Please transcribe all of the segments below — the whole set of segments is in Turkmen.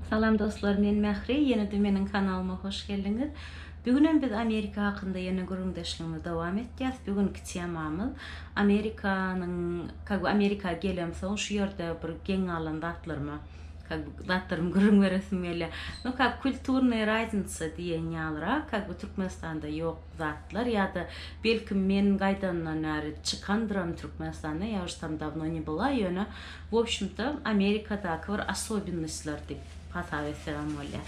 Salam dostlar men Mähri ýenede meniň kanalyma hoş geldiňiz. Bigünem biz Amerika hakynda ýene gürrüňdeşligimizi dowam etýäs. Bigünki temamyz Amerikanyň ka bu Amerika gelemsoň şu ýerde bir geň galan zatlaryma ka bu zatlarymy gürrüň beresim gelýär. No ka kulturnyýa raznica diýen ýalyrak ka bu Türkmenistanda ýok zatlar ýa-da belki men gaýdandan bäri çykandyram Türkmenistanda ýa už tam dawno ne bula ýöne W obşmto Amerikadaky bir asobinnoslar diýip hasap etsegem bolýar.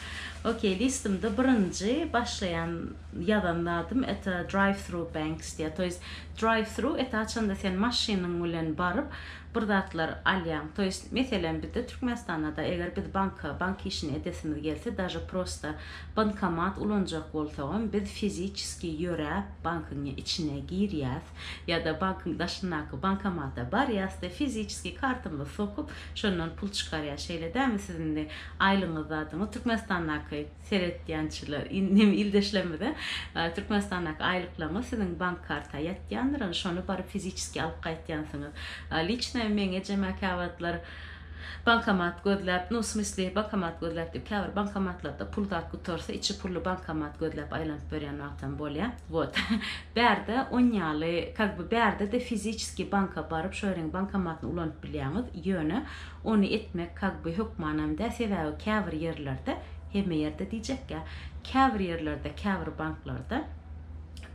Ok listymda birinji başlaýan ýazan zadym eta drive through banks diýýär. To ýest drive through eta haçanda sen maşynyň bilen baryp bir zatlar alýaň. To ýest meselem bizde Türkmenistanada eger biz banka bank işini edesimiz gelse daže prosta bankomat ulanjak bolsagam biz fiziçeskiý ýöräp bankyň içine girýäs. Ýa-da bankyň daşyndaky bankomata barýas-da, fiziçeskiý kartamyzy sokup, şondan pul çykarýas. Şeýle dälmi siziň indi aýlygyňyz zadyňyz? Türkmenistandaky seretýänçiler, in, neme, ildeşlerimiz-ä, a, Türkmenistandaky aýlyklaryňyz siziň bank karta ýatýandyr, indi şony baryp fiziçeskiý alyp gaýtýansyňyz. A, liçno meň ejeme käwagtlar bankomat gözläp, nu, smysli, bankomat gözläp diýip, käbir bankomatlarda pul zat gutarsa, içi pully bankomat gözläp aýlanyp ýörýän wagtam bolýar. Wot. Bärde on ýaly kak by bärdede fiziçeskiý banka baryp şo ýeriň bankomatyny ulanyp bilýäňiz, ýöne ony etmek kak by hökmanam dä, sebäbi käbir ýerlerde, hemme ýerde diýjekkä, käbir ýerlerde, käbir banklarda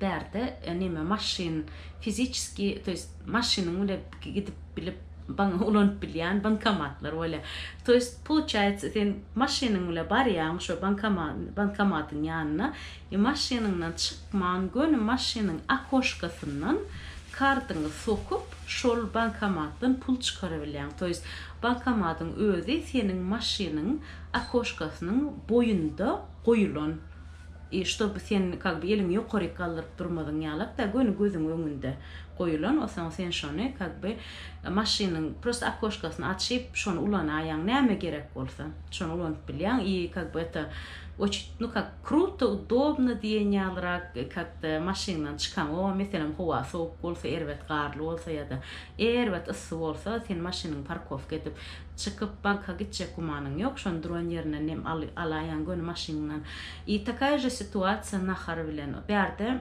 bärde neme maşyn fiziçeskiý to ýest maşynyň bile gidip bilip ban ulanyp bilýän bankomatlar bolýa. To ýest pouçaýýatsa sen maşynyň bile barýaň şo bankoma bankomatyň ýanyna, E maşynyňdan çykman göni maşynyň okoşkasyndan kartyňy sokup şol bankomatdan pul çykarabilýäň to ýest bankomatyň özi seniň maşynyň okoşkasynyň boýunda goýulan i ştoby sen kak by eliňi ýokaryk galdyryp durmazyň ýalak da göni gözüň öňünde goýulan osaň sen şony kak by maşynyň prosta okoşkasyny açyp şony ulanaýaň näme gerek bolsa şony ulanyp bilýäň i kak by eta oçit nu kak Kruto, udobno diýen ýalyrak kak-da maşyndan çykaňow, meselem, howa sowuk bolsa, erbet garly bolsa ýa-da erbet yssy bolsa, sen maşynyňy parkowka edip, çykyp, banka gitjek gümanyň ýok, şony duran ýerinden nem al, alaýaň göni maşyňdan. I takaya je situasiýa nahar bilen. Bärde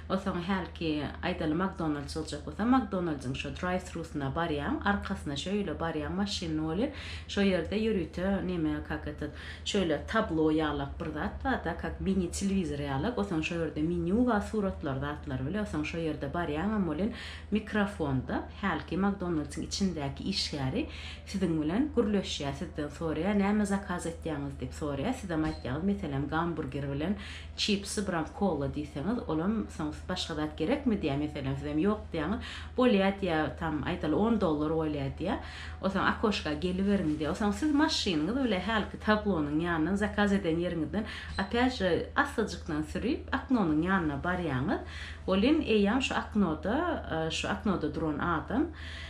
Osoň hälki, aýdaly, Makdonald çyljak bolsa, Makdonaldyň şo drive-thrusyna barýaň, arkasyna şöýle barýaň maşynyny welin, şo ýerde ýörite neme, kak etat, şöýle tablo ýalak bir zat bar-da, kak mini-telewizor ýalak, osoň şo ýerde menýu bar, suratlar, zatlar bile, osoň şo ýerde barýaňam welin, mikrofonda hälki Makdonaldyň içindäki işgäri siziň bilen gürleşýär, sizden soraýar, näme zakaz etýäňiz diýip soraýar, sizem aýtýaňyz, meselem, gamburger bilen Çipsi bram kola diýseňiz olam soň başga zat gerekmi diýä meselem sizem ýok diýäňiz bolýa diýä tam aýdaly on dollar bolýa diýä o soň akoşka geliberiň diýä o soň siz maşynyňyz bile hälki tablonyň ýanyndan zakaz eden ýeriňizden opýat je assajykdan sürip aknonyň ýanyna barýaňyz welin eýýam şu aknoda şu aknoda duran adam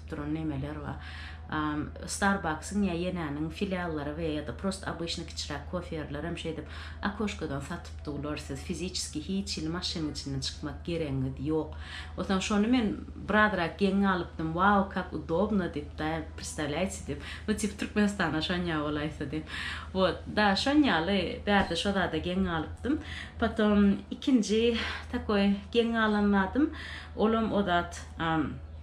edip duran nemeler bar. Starbucks-yň ýa Ýenäniň filiallary we ýa-da prosta obyçny kiçiräk kofe ýerleri hem şeýdip okoşkadan satyp dular. Siz fiziçeski hiç hili maşynyň içinden çykmak geregiňiz ýok. Otaň şony men birazrak geň galypdym, Wow, kak udobno diýip, da predstavlýaýtsi diýip, nu tip Türkmenistana şonýa bolaýsa diýip. Wot, da şon ýaly bärde şo zada geň galypdym. Potom ikinji takoý geň galan zadym, olam o zat,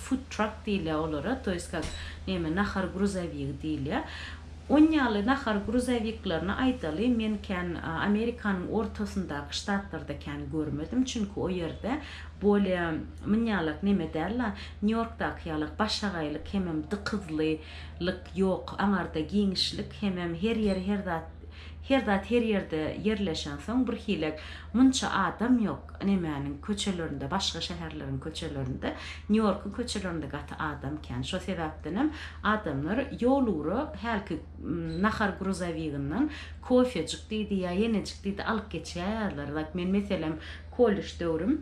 food truck diýilýär olara, to ýest kak neme nahar gruzowigi diýilýär. Ony ýaly nahar gruzowiklaryny aýdaly men kän Amerikanyň ortasyndaky ştatlarda kän görmedim, çünki o ýerde bolýa myn ýalak neme däl-la, Nýu-Ýorkdaky ýalak başagaýlyk hemem dykyzlylyk ýok, aňarda giňişlik hemem her ýeri her zat Her zat her ýerde ýerleşensoň birhilek munça adam ýok, nemäniň köçelerinde, başga şäherleriň köçelerinde, Nýu-Ýorkuň köçelerinde gaty adam kän. Şo sebäpdenem adamlar ýolugra hälki nahar gruzowiginden kofejik diýdi ýa ýenejik diýdi alyp geçýärler. Zat men meselem kollej döwrüm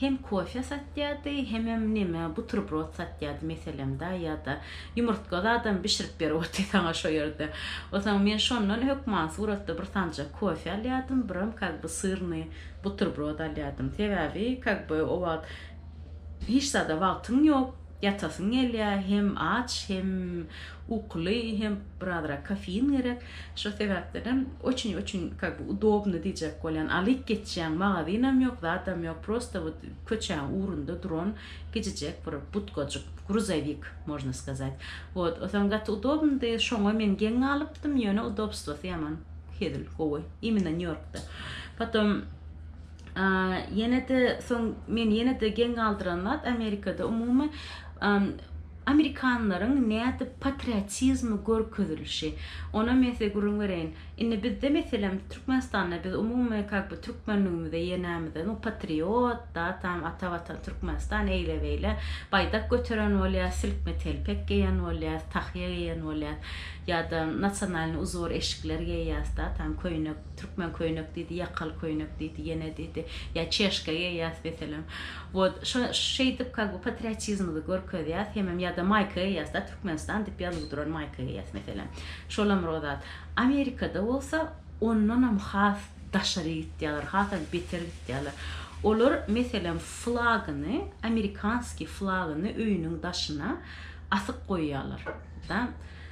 hem kofe satýardy hemem neme buterbrod satýardy meselemda ýada ýumurtga zadam bişirip berip otdy saňa şo ýerde osaň men şondan hökman suratda bir sanjak kofe alýadym biram kak by syrny buterbrod alýadym sebäbi kak by o wagt hiç zada wagtyň ýok. Ýatasyň gelýä, hem aç, hem ukuly, hem birazrak kofein gerek. Şo sebäpdenem oçün oçün kak by udobny diýjek bolýan. Alyp geçýäň, magazynam ýok, zadam ýok, prosta wot köçäň ugrunda duran kiçijek bir budkajyk, gruzowik można skazat. Wot, osaň gaty udobnydy, şoňa men geň galypdym, ýöne udobstwosy ýaman hezil, gowy, imina Nýu-Ýorkda. Potom. Ýene-de soň meni ýene-de geň galdyran zat Amerikada umumy amerikanlaryň nädip patriotizmi görkezilişi. Onam men size gürrüň bereýin. Indi bizde meselem Türkmenistanda biz umumy kak bu türkmenligimize ýa nämede nu patriot da tam ata watan Türkmenistan eýle beýle baýdak göteren bolýar, silkme telpek geýen bolýar, tahýa geýen bolýar ýa-da nasionalnyý uzor eşikler geýýäs da tam köýnek Türkmen köýnek diýdi, ýakaly köýnek diýdi, ýene diýdi, ýa çeşka geýýäs meselem. Wot, şo şeýdip kag bu patriotizmyzy görkezýäs, hemem ýa-da maýka geýýäs-de, Türkmenistan diýip ýazuw duran maýka geýýäs meselem. Şolam bir o zat. Amerikada bolsa ondanam has daşary gitýärler, hasam beter gitýärler. Olar, meselem, flagyny, amerikanskiý flagyny öýüniň daşyna asyp goýýarlar. Da,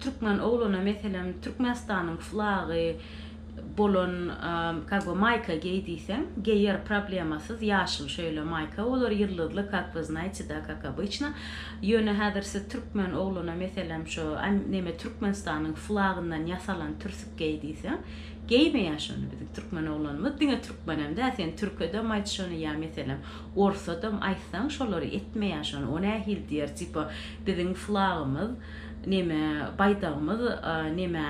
Türkmen ogluna meselem Türkmenistanyň flagy bolan kak by maýka geý diýseň geýer problemasyz ýaşyl şeýle maýka bolar ýyldyzly kak by znaýte da kak obyçno ýöne häzir siz Türkmen ogluna meselem şo neme Türkmenistanyň flagyndan ýasalan türsük geý diýseň geýmeýär şony biziň Türkmen oglanymyz diňe Türkmenem däl sen Türküdem aýt şony ýa meselem Orsadam aýtsaň şolary etmeýär şony o nähili diýer tipa biziň flagymyz neme baýdagymyz neme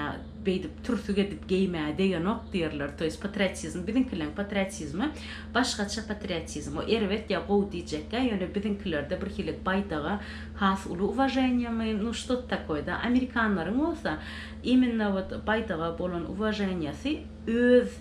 beýdip türsük edip geýmä degenok diýerler toýs patriotizm biziňkileň patriotizmi başgaça patriotizm o erbet ýa gowy diýjekkä ýöne biziňkilerde bir hili baýdaga has uly uwaženiýamy nu ştot takoýda amerikanlaryň bolsa imenna wot baýdaga bolan uwaženiýasy öz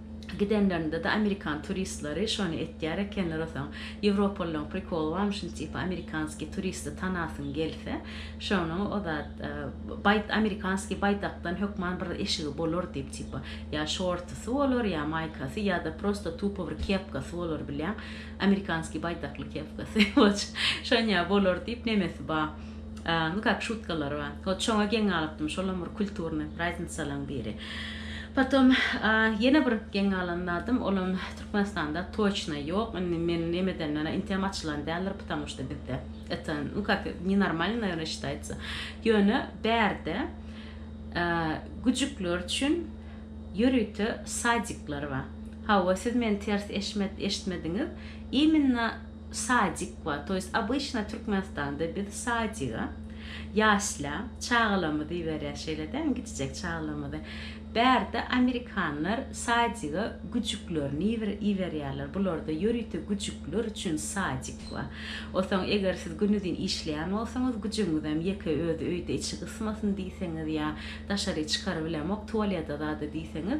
Gidenlerinde-de amerikan turistleri şony etýär ekenler osaň. Ýewropalylaryň prikoly barmyşyn tipa amerikanskiý turisti tanasyň gelse, şony o zat baý amerikanskiý baýdakdan hökman bir eşigi bolar diýip tipa ýa şortusy bolar ýa maýkasy ýa-da prosta tupa bir kepkasy bolar bilýäň amerikanskiý baýdakly kepkasy şon ýa bolar diýip nemesi ba. A nu kak şutkalary bar. Hot şoňa geň galypdym, şolam bir kulturnyý praznitsalaň biri. Potom a ýene bir geň galan zadym, olam Türkmenistanda toçna ýok. Indi men neme edenmena inteem açylan däldir, ptamu şta bizde eta nu kak ne normalno naýerno şitaýtsa. Ýöne bärde a güjükler üçin ýörite sadikler bar. Hawa, siz meni ters eşmet eşitmediňiz. Iminna Sadik bar. To ýest obyçna Türkmenistanda biz sadiga ýaşla çagalarymyzy iberýäs şeýle dämi kiçijek çagalarymyzy. Bärde amerikanlar sadiga güjüklerini iberýärler. Bularda ýörite güjükler üçin sadik bar. Onsoň eger siz günuzin işleýän bolsaňyz güjügiňizem ýeke özi öýde içi gysmasyn diýseňiz ýa daşary çykarybilemok tualede zada diýseňiz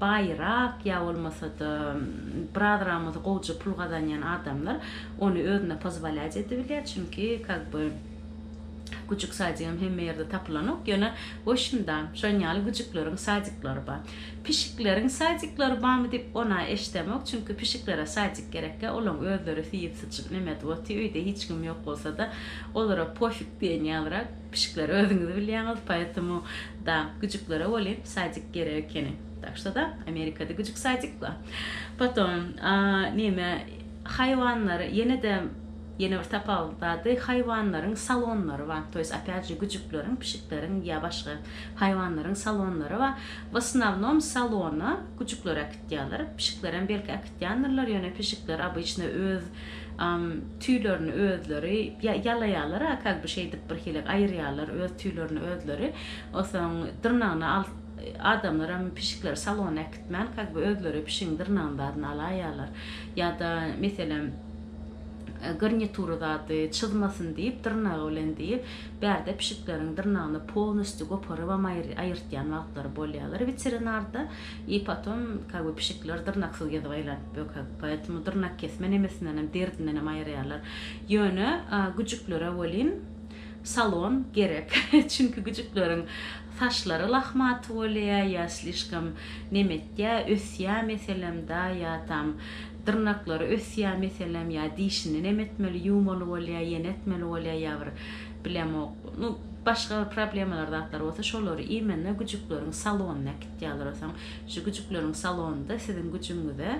baýrak ýa bolmasa-da biraz ramyzy gowja pul gazanýan adamlar ony özüne pozwalýat edibilýär, çünki kak by güjük sadigem hemme ýerde tapylanok, ýöne goşunda şon ýaly güjükleriň sadiklary bar. Pişikleriň sadiklary barmy diýip ona eşdemok, çünki pişiklere sadik gerekkä, olaň özleri süýüp-syçyp nemedwoty öýde hiç kim ýok bolsada olara pofik diýen ýalyrak. Pişikler özüňiz bilýäňiz poetomu da güjüklere welin sadik gerek ekeni tak şo da amerikada güjük sadik ba potom nime haýwanlary ýenede ýene bir tapawut zady haýwanlaryň salonlary ba to ýest opýat je güjükleriň pişikleriň ýa başga haýwanlaryň salonlary ba w osnownom salona güjükleri äkitýaler pişiklerem belki Ýandyrlar ýöne pişikler obyçno öz tüýlerini özleri ýa ýalaýarlar a kag by şeýdip bir hilek aýyrýarlar öz tüýlerini özleri osaň dyrnagyny al adamlaram pişikleri salona äkitmän kag by özleri pişigiň dyrnagyny zadyny alaýýarlar ýada meselem garnitury zady çyzmasyn diýip dyrnagy bilen diýip bärde pişikleriň dyrnagyny polnostýu goparybam aýyrtýan wagtlary bolýalar weterinarda I potom как бы pişikler dyrnaksyz gezip aýlanyp bökek, poetmu dyrnakkesme nemesindenem, derdindenem aýyrýarlar. Ýöne güjüklere welin salon gerek. Çünki güjükleriň saçlary lahmaty bolýa ýa slişkom neme etýä, ösýä meselem da ýa tam dyrnaklary ösýä meselem ýa dişini neme etmeli, ýuwmaly bolýa, ýene etmeli bolýa ýa bir bilemok, nu başga bir problemalar zatlar bolsa şolary imenne güjükleriň salonyna diýýärler soň şu güjükleriň salonynda siziň güjüňize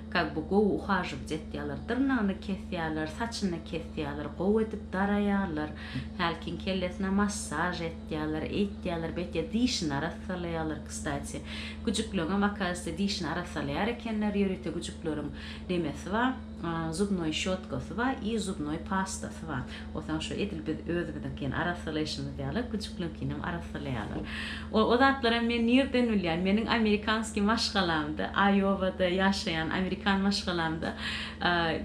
kak bu gowy uhažować etýärler dyrnagyny kesýärler saçyny kesýärler gowy edip daraýarlar hälkiň kellesine massaž etýärler eýtýärler beýtýär dişini arassalaýarlar kstati güjükleriňem akasiyte dişini arassalaýar ekenler ýörite güjükleriň nemesi bar. zubnoý şotkasy bar i zubnoý pastasy bar osaň şo edil biz özümiziňkini arassalaýşymyz ýaly güjükliňkinem arassalaýarlar o zatlaram men nirden bilýän meniň amerikanskiý maşgalamda aýowada ýaşaýan amerikan maşgalamda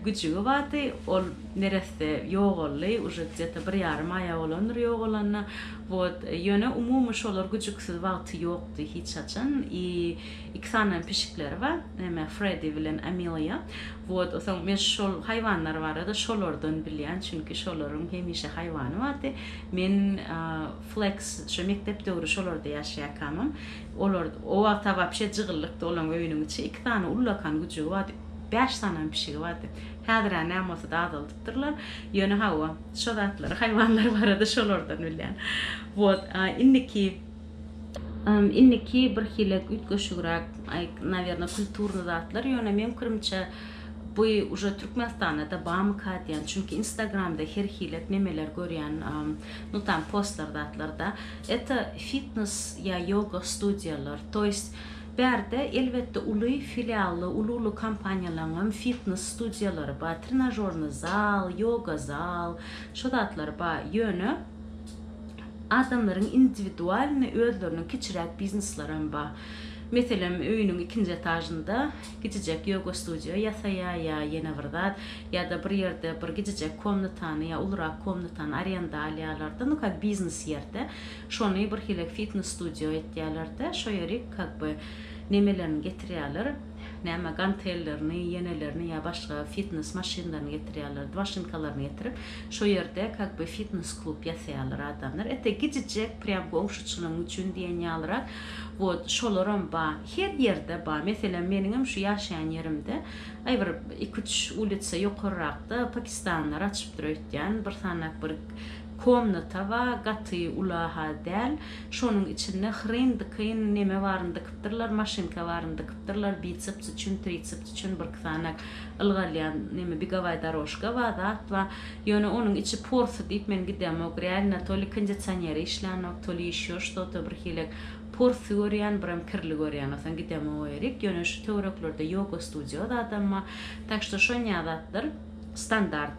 güjügi bardy ol neresse ýogaldy uje kde to bir ýarym aýa bolandyr ýogalanyna wot ýöne umumy şolar güjüksiz wagty ýokdy hiç haçan i Iki sany pişikleri bar. Näme Fredi bilen Amiliýa. Wot soň men şol haýwanlar barada şolardan bilýän, çünki şolaryň hemişe haýwany bardy. Men Fleks şu mekdep döwri şolarda ýaşaýarkamam, olar o wagta wapşe jygyllykdy olaň öýüniň içi. Iki sany ullakan güjügi bardy. Bäş sanam pişigi bardy. Häzir-ä näme bolsa-da azaldypdyrlar. Ýöne hawa, şo zatlary haýwanlar barada şolardan bilýän. Wot indiki. Indiki birhili üýtgeşigräk, nawerno, kulturny zatlar, ýöne meň pikirimçe, bu uje Türkmenistanda-da bamyka diýän, çünki instagramda her hilet memeler görýän, nu tam postlar zatlarda, eta fitnes ýa ýoga studiýalar, to ýest, bärde elbetde uly filially, uly-uly kompaniýalaryňam fitnes studiýalary bar, trenažornyý zal, ýoga zal, şo zatlar bar, ýöne, Adamlaryň indiwidualnyý özleriniň kiçiräk bizneslary hem bar. Meselem, öýüniň ikinji etažynda kiçijek ýoga studio ýasaýar ýa ýene bir zat, ýa-da bir ýerde bir kiçijek komnatany ýa ulurak komnatany arenda alýarlar-da, nu kak biznes ýerde, şony birhili fitnes studio etýärler-de, şo ýeri kak by nemelerini getirýärler. Näme gantellerini, ýenelerini ýa başga fitnes maşynlaryny getirýärlerdi, maşynkalaryny getirip, şo ýerde kak be fitnes klub ýasaýarlar adamlar. Ete gijijek prýam goňşuçylygyň üçin diýen ýalyrak. Wot şolaram ba, her ýerde ba. Meselem, meniňem şu ýaşaýan ýerimde, aý bir iki-üç ulitsa ýokarrakda pakistanlylar açypdyr öýtýän, bir sanak bir Komnata ba gaty ula ha däl şonuň içinde hryn dykyn neme baryn dykpdyrlar maşynka baryn dykpdyrlar biceps üçin triceps üçin birki sany ylgalýan neme begowaý darožka ba zat ba ýöne onuň içi porsy diýip men gidemok realno to li kondicioneri işlänok to li ýeşo şto to bir hile porsy görýän birem kirli görýän osaň gidemok o ýerik ýöne şu töwereklerde ýoga studio zadam ba tak şto şonyä zatlar standart.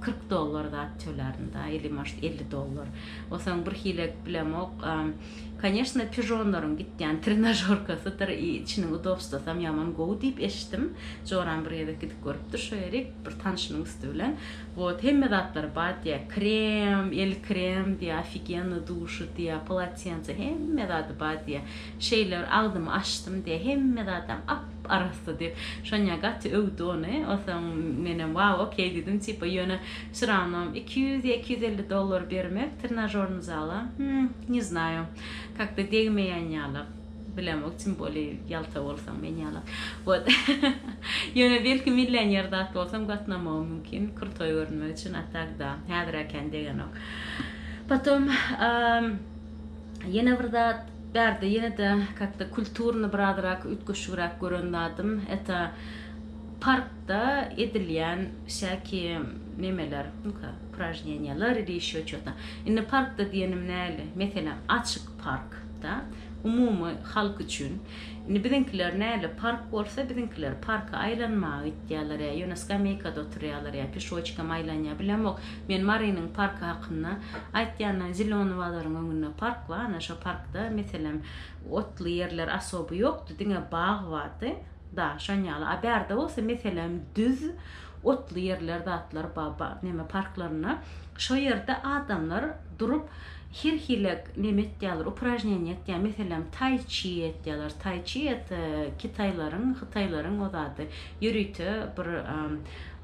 kyrk dollar zat tölärindä ili может elli dollar osaň bir hile bilemok konýeşna pižonlaryň gitýän trenažorkasydyr i içiniň udobstosam ýaman gowy diýip eşitdim joram bir gezek gidip görüpdir şo ýerik bir tanşynyň üsti bilen wot hemme zatlary bar diýýä krem el krem diýýä ofigenno duşy diýýä polotense hemme zady bar diýýä şeýle bir agzymy açdym diýýä hemme zadam ap arassa diýip, Şonýa gaty öwdi ony. Onsoň menem waw, okey diýdim, tipa, ýöne şyramam iki ýüz ýa iki ýüz elli dollar bermek trenajornyý zala, hum, ne znaju, kak-da degmeýän ýaly, bilemok, tim boli ýalta bolsaň men ýaly. Wot. Ýöne belki millioner zat bolsam gatnamagym mümkin, krutoý görünmek üçin, a tak da, häzirä kän degenok. Potom, ýene bir zat. Bärde ýene-de kak-da kulturny birazrak üýtgeşigräk gören zadym, eta parkda edilýän şäki nemeler, nu-ka, upražneniýalar ili ýeşil uçota. Indi parkda diýenim näli? Meselem, açyk park, da, umumy halk üçin. Indi biziňkiler näli, park bolsa, biziňkiler parka aýlanmaga gitýäler ýa ýöne skameýkada oturýalar ýa pişoçkam aýlanýa, bilemok. Men Marynyň parky hakynda aýtýanda zelony bazaryň öňünde park bar ana şo parkda meselem otly ýerler asoby ýokdy diňe bag bardy da şon ýaly a bärde bolsa meselem düz otly ýerler zatlar ba ba neme parklarynda şo ýerde adamlar durup her hile neme etýärler upražneniýa etýär meselem tai çi etýärler tai çi et kitaýlaryň hytaýlaryň o zady ýörite bir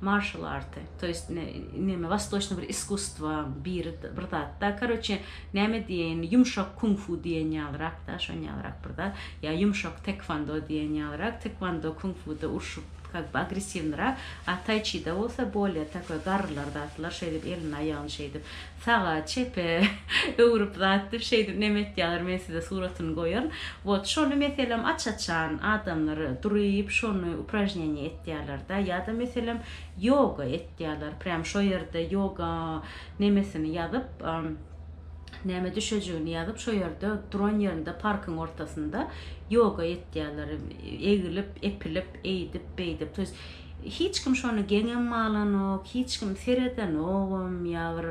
marşal arty. To jest neme wastoçny bir iskusstwa biri bir zat da karoçe name diýeýin ýumşak kung fu diýen ýalyrak da şon ýalyrak bir zat ýa ýumşak tekvando diýen ýalyrak tekvando kung fu da urşup kak by agressiwnyrak a tai chi da bolsa bolýa takoý garrylar zatlar şeýdip elini aýagyny şeýdip saga çepe öwrüp zat dip şeýdip neme etýaler men size suratyny goýaryn wot şony meselem aç açan adamlar duryp şony upražneniýe etýaler da ýa da meselem Ýoga etýärler prýam şo ýerde ýoga nemesini ýazyp näme düşejigini ýazyp şo ýerde duran ýerinde parkyň ortasynda ýoga etýärler egilip epilip eýdip beýdip to ýest hiç kim şony geňem alanok hiç kim seredenogam ýa bir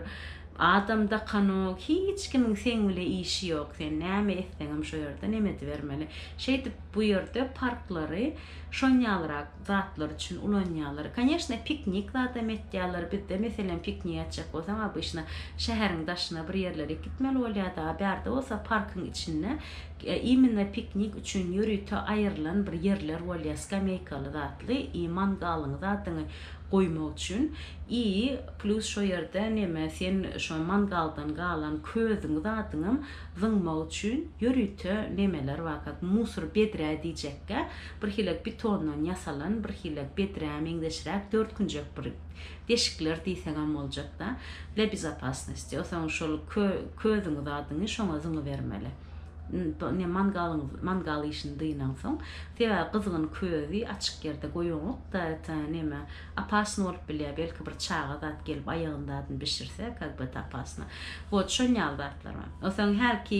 adam dakanok hiç kimiň seň bile işi ýok sen näme etseňem şo ýerde nem edibermeli şeýdip bu ýerde parklary şonýalrak zatlar üçin ulanýarlar. Koneşne piknik zadam etýärler. Bizde meselem piknik etjek bolsaň obyşna şäheriň daşyna bir ýerlere gitmeli bolýardy. A bärde bolsa parkyň içinde immine piknik üçin ýörite aýrylan bir ýerler bolýar skameýkaly zatly i mangalyňy zadyňy goýmak üçin i plýus şo ýerde neme sen şo mangaldan galan közüňi zadyňam zyňmak üçin ýörite nemeler bar kak musor bedrä diýjekkä. Birhili bitondan ýasalan, birhili bedrä meňzeşräk dört künjek bir deşikler diýsegem boljak-da, dla bezopasnosti. Soň şol kö-közüňi zadyňy şoňa zyňybermeli. N-ne mangalyňy, mangal işini dynaňsoň. Sebäbi gyzgyn közi açyk ýerde goýaňok-da, t-a neme, opasny bolup bilýär, belki bir çaga zat gelip aýagyny zadyny bişirse, kag-be-t-a opasny. Wot, şon ýaly zatlar bar. Soň hälki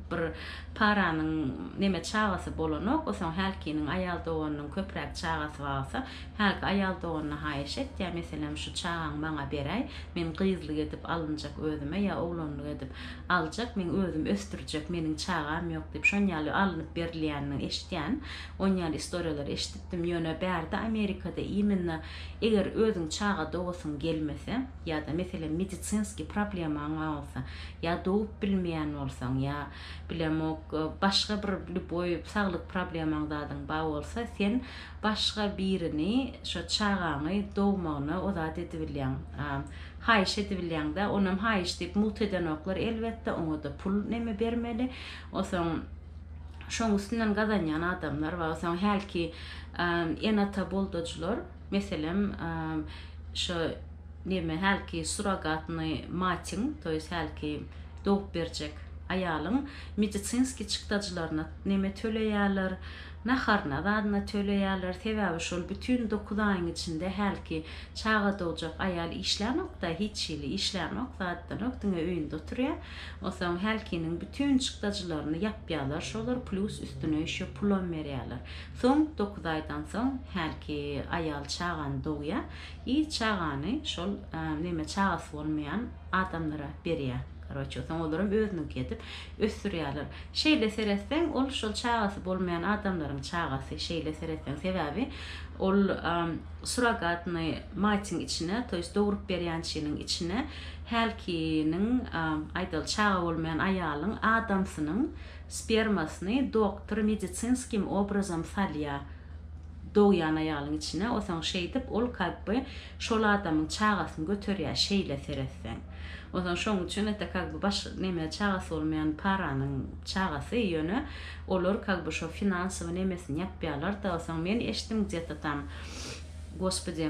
Bir Paranyň neme çagasy bolanok, osaň hälkiniň aýal doganynyň köpräk çagasy balsa, hälki aýal doganyna haýyş et, ýa meselem şu çagaň maňa beräý, men gyzlyk edip alynjak özüme ýa oglanlyk edip aljak, men özüm ösdürjek, meniň çagam ýok diýip şon ýaly alnyp berilýänini eşitýän, on ýaly istoriýalary eşidipdim, ýöne bärde Amerikada imenna eger özüň çaga dogasyň gelmese, ýa-da meselem medisinskiý problemaň bar bolsa, ýa dogup bilmeýän bolsaň, ýa bilemok başga bir lýuboý saglyk problemaň zadyň bar bolsa sen başga birini şo çagaňy dogmagyna o zat edibilýäň haýyş edibilýäňdä onam haýyş diýip mugt edenoklar elbetde oňada pul neme bermeli osoň şoň üstünden gazanýan adamlar bar osoň hälki ene ata boldajylar. Meselem, şu neme hälki surrogatnyý matyň, to ýest hälki dogup berjek aýalyň medisinskiý çykdajylaryna neme töleýärler, naharyna zadyna töleýärler, sebäbi şol bütin dokuz aýyň içinde hälki çaga dogjak aýal işlänok-da, hiç hili işlänok, zadydanok, diňe öýünde oturýar. Onsoň hälkiniň bütin çykdajylaryny ýapýarlar şolar, plýus üstüne ýşo pulam berýärler. Soň dokuz aýdan soň hälki aýal çagany dogýar i çagany şol neme çagasy bolmaýan adamlara berýär. Karoçe soň olaram özüniňki edip ösdürýärler. Şeýle seretseň ol şol çagasy bolmaýan adamlaryň çagasy şeýle seretseň sebäbi ol suragatnyý matyň içine to ýest dogrup berýänçiniň içine hälkiniň aýdaly çaga bolmaýan aýalyň adamsynyň Spermasyny doktor medicinskim obrazam salýa dogýan aýalyň içine osaň şeýdip ol kak by şol adamyň çagasyny göterýä şeýle seretseň osaň şoň üçin ete kak by baş neme çagasy bolmaýan paranyň çagasy ýöne olar kak by şo finansowy nemesini ýapýalar da osaň men eşdim gdýeto tam gospodi.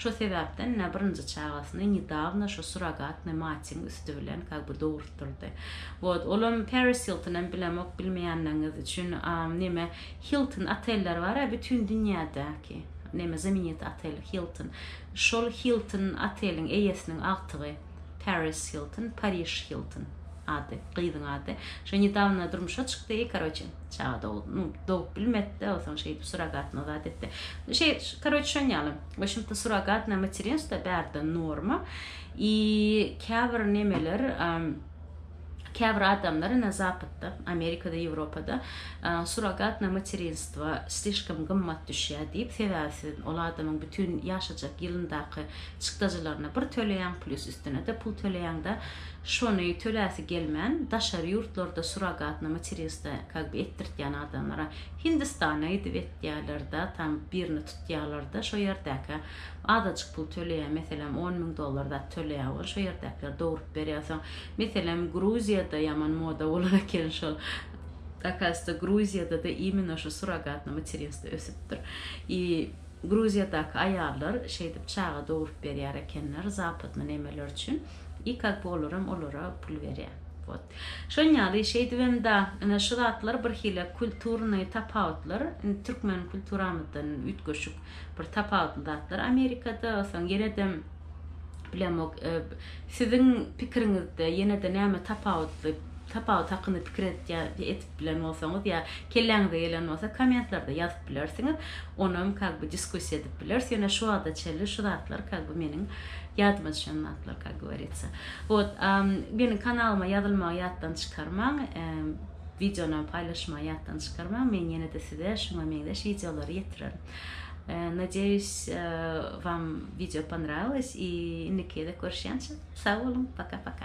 Şo sebäpden-de birinji çagasyny nedawno şo surrogatny matyň üsti bilen kak by dogurtdyrdy. Wot, olam Paris Hiltonem bilemok, bilmeýänleriňiz üçin, a, neme, Hilton otelleri bar-a bütin dünýädäki, neme, zamenitý otel Hilton. Şol Hilton oteliň eýesiniň agtygy. Paris Hilton, Pariž Hilton ady, gyzyň ady. Şo nedawno durmuşa çykdy, karoçe, çaga dogdy, nu, dogup bilmedi-de, onsoň şeýdip surrogatno zat etdi. Şeý, karoçe, şon ýaly. We şunt-da surrogatno materinstwo bärde norma. I käbir nemeler, Käbir adamlar ine zapatda, Amerikada, Ýewropada surrogatna materinstwo slişkom gymmat düşýär diýip, sebäbi siz ol adamyň bütin ýaşajak ýylyndaky çykdajylaryny bir töleýäň, plis üstüne-de pul töleýäň-de, şony töläsi gelmän, daşary ýurtlarda surrogatna materinstwo ka bi etdirtýän adamlara Hindistana gidip etýärler-de, tam birini tutýarlar-da, şo ýerdäkä azajyk pul töleýär, meselem, on müň dollar zat töleýär, ony şo ýerdäkiler dogrup berýär. Soň, meselem, Gruziýada ýaman moda bolan eken şol. Akasda Gruziýada-da imino şu surrogatny materinstwo ösüpdir. I Gruziýadaky aýallar şeýdip çaga dogrup berýär ekenler zapadny nemeler üçin. I как бы olaram olara pul berýär. Вот. Şon ýaly şeýdibem da ine şu zatlar birhili kulturnyý tapawutlar. Indi türkmen kulturamyzdan üýtgeşik. bir tapawutly zatlar Amerikada, soň ýene-de bilemok, siziň pikiriňizde ýene-de näme tapawutly, tapawut hakynda pikir edýär, edip bilen bolsaňyz ýa kelläňize gelen bolsa kommentlarda ýazyp bilersiňiz, onam kak bi diskussiýa edip bileris, ýöne şu wagta çenli şu zatlar kak bi meniň ýadyma düşen zatlar kak gowaritsa. Wot, a meniň kanalyma ýazylmagy ýatdan çykarmaň. wideony paýlaşmagy ýatdan çykarmaň men ýene-de size şuňa meňzeş wideolary ýetirerin. Nadeýus wam wideo ponrawilось i indiki gezek görüşýänçä sag boluň paka paka.